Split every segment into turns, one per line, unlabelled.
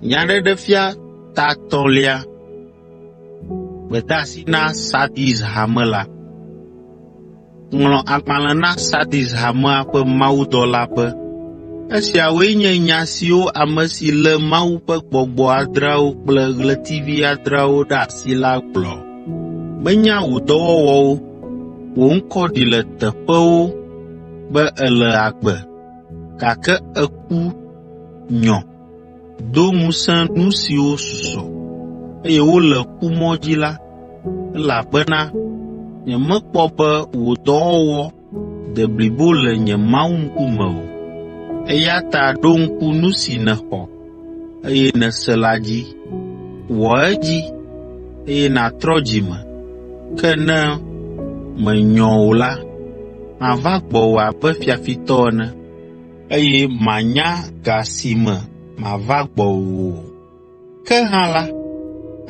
Nyaɖeɖefia ta etɔ̃lia. Gbedeasi na Sardis hame la. Ŋlɔ agbalẽ na Sardis hamea ƒe mawudɔla be: Esiawoe nye nya siwo ame si lé Mawu ƒe gbɔgbɔ adreawo kple ɣletivi adreawo ɖe asi la gblɔ. Menya wò dɔwɔwɔwo, wò ŋkɔ ɖi le teƒewo be èle agbe, gake èku nyɔ, do ŋusẽ nu siwo susɔ, eye wole kumɔdzi la, elabena nyemekpɔ be wò dɔwɔwɔ de blibo le nye Mawu ŋkume o. Eya ta ɖo ŋku nu si nèxɔ, eye nèse la dzi. Wɔ edzi, eye nàtrɔ dzi me. Ke ne mènyɔ o la, mava gbɔwò abe fiafitɔ ene, eye mànya ga si me mava gbɔwò o. Ke hã la,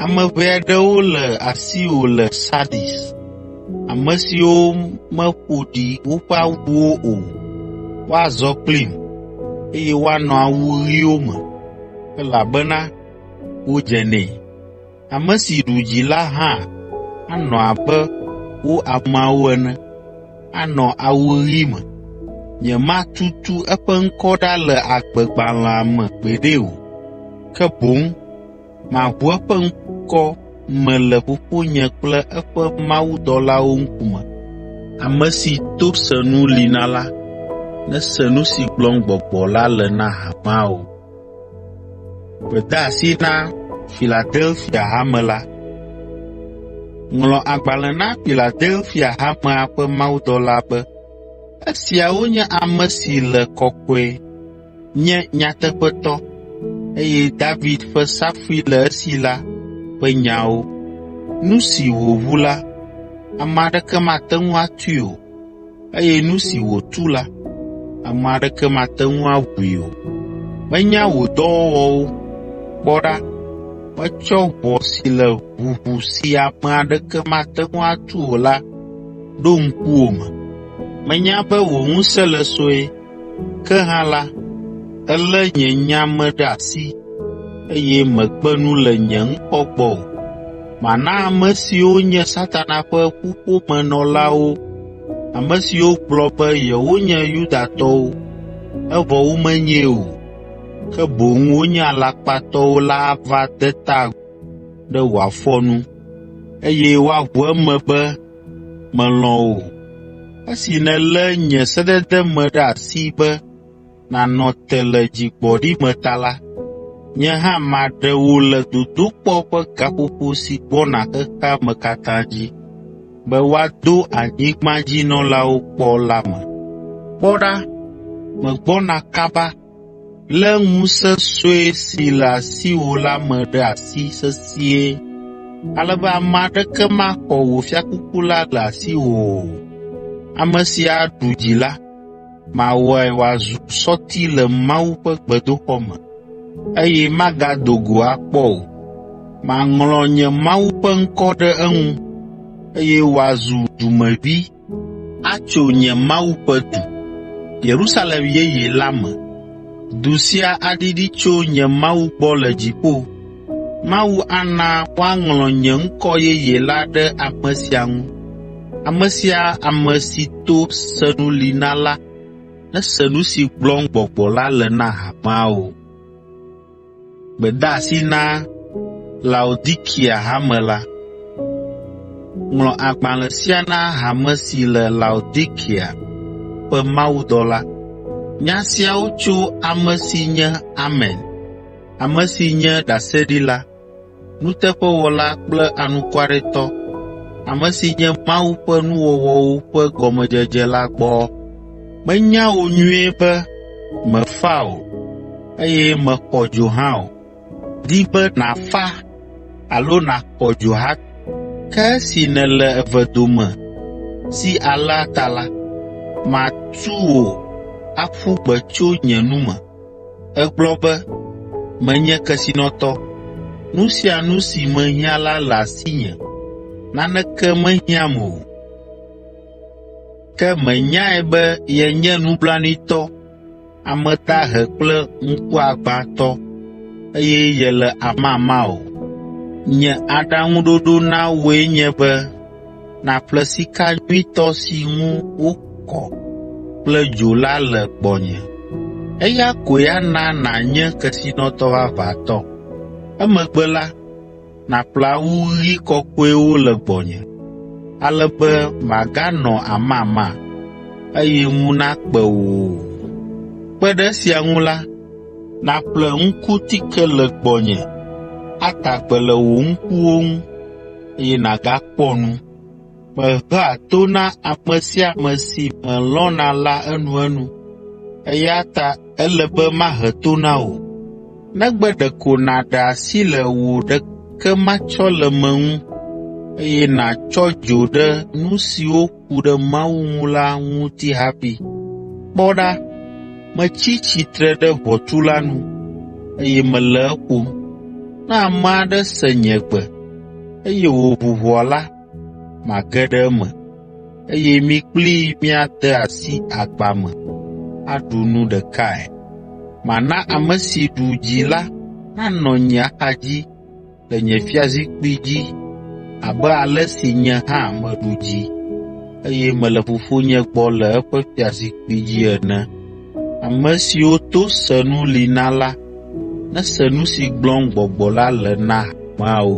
ame ʋɛ aɖewo le asiwò le Sardis. ame siwo meƒo ɖi woƒe awuwo o, woazɔ kplim, eye woanɔ awu ɣiwo me, elabena wodze nɛ. Ame si ɖu dzi la hã anɔ abe wo ameawo ene, anɔ awu ɣi me. Nyematutu eƒe ŋkɔ ɖa le agbegbalẽa me gbeɖe o, ke boŋ Maʋu eƒe ŋkɔ me le Fofonye kple eƒe mawudɔlawo ŋkume. Ame si to se nu li na la, nese nu si gblɔm Gbɔgbɔ la le na hamea o. Gbedeasi na Filadelfia hame la. Ŋlɔ agbalẽ na Filadelfia hamea ƒe mawudɔla be: Esiawo nye ame si le kɔkɔe, nye nyateƒetɔ, eye David ƒe safui le esi la ƒe nyawo. Nu si wòʋu la, ame aɖeke mate ŋu atui o, eye nu si wòtu la, ame aɖeke mate ŋu aʋui o. Menya wò dɔwɔwɔwo. Kpɔ ɖa, metsɔ ʋɔ si le ʋuʋu si ame aɖeke mate ŋu atu o la ɖo ŋkuwò me. Menya be wò ŋusẽ le sue, Ke hã la, elé nye nya me ɖe asi, eye megbe nu le nye ŋkɔ gbɔ o. Mana ame siwo nye Satana ƒe ƒuƒomenɔlawo, ame siwo gblɔ be yewonye Yudatɔwo, evɔ womenyee o, ke boŋ wonye alakpatɔwo la ava de ta agu ɖe wò afɔ nu, eye woaʋu eme be Melɔ̃ wò, esi nèlé nye sedede me ɖe asi be nànɔ te le dzigbɔɖi me ta la, nye hã maɖe wò le dodokpɔ ƒe gaƒoƒo si gbɔna xexea me katã dzi, be woado anyigbadzinɔlawo kpɔ la me. Kpɔ ɖa, megbɔna kaba Lé ŋusẽ sue si le asiwò la me ɖe asi sesĩe ale be ame aɖeke maxɔ wò fiakuku la le asiwò o. Ame si aɖu dzi la, mawɔe wòazu sɔti le Mawu ƒe gbedoxɔ me, eye magado go akpɔ o. Maŋlɔ nye Mawu ƒe ŋkɔ ɖe eŋu, eye wòazu dumevi atso nye Mawu ƒe du, Yerusalem yeye la me. Du sia aɖiɖi tso nye Mawu gbɔ le dziƒo. Mawu ana woaŋlɔ nye ŋkɔ yeye la ɖe ame sia ŋu. Ame sia ame si to se nu li na la nese nu si gblɔm Gbɔgbɔ la le na hameawo.” Gbedeasi na Laodikea hame la. Ŋlɔ agbalẽ sia na hame si le Laodikea ƒe mawudɔla. Nya siawo tso ame si nye Amen, ame si nye Ɖaseɖila, nuteƒewɔla kple anukwaretɔ, ame si nye Mawu ƒe nuwɔwɔwo ƒe gɔmedzedze la gbɔ. Menya wò nyuie be mèfa o, eye mèxɔ dzo hã o. Di be nàfa alo nàxɔ dzo hafi. Ke esi nèle eve dome si alea ta la, matu wò aƒu gbe tso nye nu me. Egblɔ be, “Menye kesinɔtɔ. Nu sia nu si mehiã la le asinye, naneke mehiãm o.” Ke menyae be yenye nublanuitɔ, ame dahe kple ŋkuagbãtɔ, eye yele amama o. Nye aɖaŋuɖoɖo na wòe nye be nàƒle sika nyuitɔ si ŋu wokɔ kple dzo la le gbɔnye. Eya koe ana nànye kesinɔtɔ vavãtɔ. Emegbe la, nàƒle awu ɣi kɔkɔewo le gbɔnye, ale be màganɔ amama, eye ŋu nakpe wò o. Kpe ɖe esia ŋu la, nàƒle ŋkutike le gbɔnye, ata gbe le wò ŋkuwo ŋu. eye nàgakpɔ nu. Mehea to na ame sia ame si melɔ̃na la enuenu, eya ta ele be mahe to na wò, negbe ɖeko nàɖe asi le wò ɖekematsɔleme ŋu, eye nàtsɔ dzo ɖe nu siwo ku ɖe Mawu ŋu la ŋuti hafi. Kpɔ ɖa, metsi tsitre ɖe ʋɔtru la nu, eye mele eƒom. Ne ame aɖe se nye gbe, eye wòʋu ʋɔa la, mage ɖe eme, eye mi kplii míade asi agba me aɖu nu ɖekae. Mana ame si ɖu dzi la nanɔ nye axadzi le nye fiazikpui dzi, abe ale si nye hã meɖu dzi, eye mele Fofonye gbɔ le eƒe fiazikpui dzi ene. Ame siwo to se nu li na la nese nu si gblɔm Gbɔgbɔ la le na hameawo.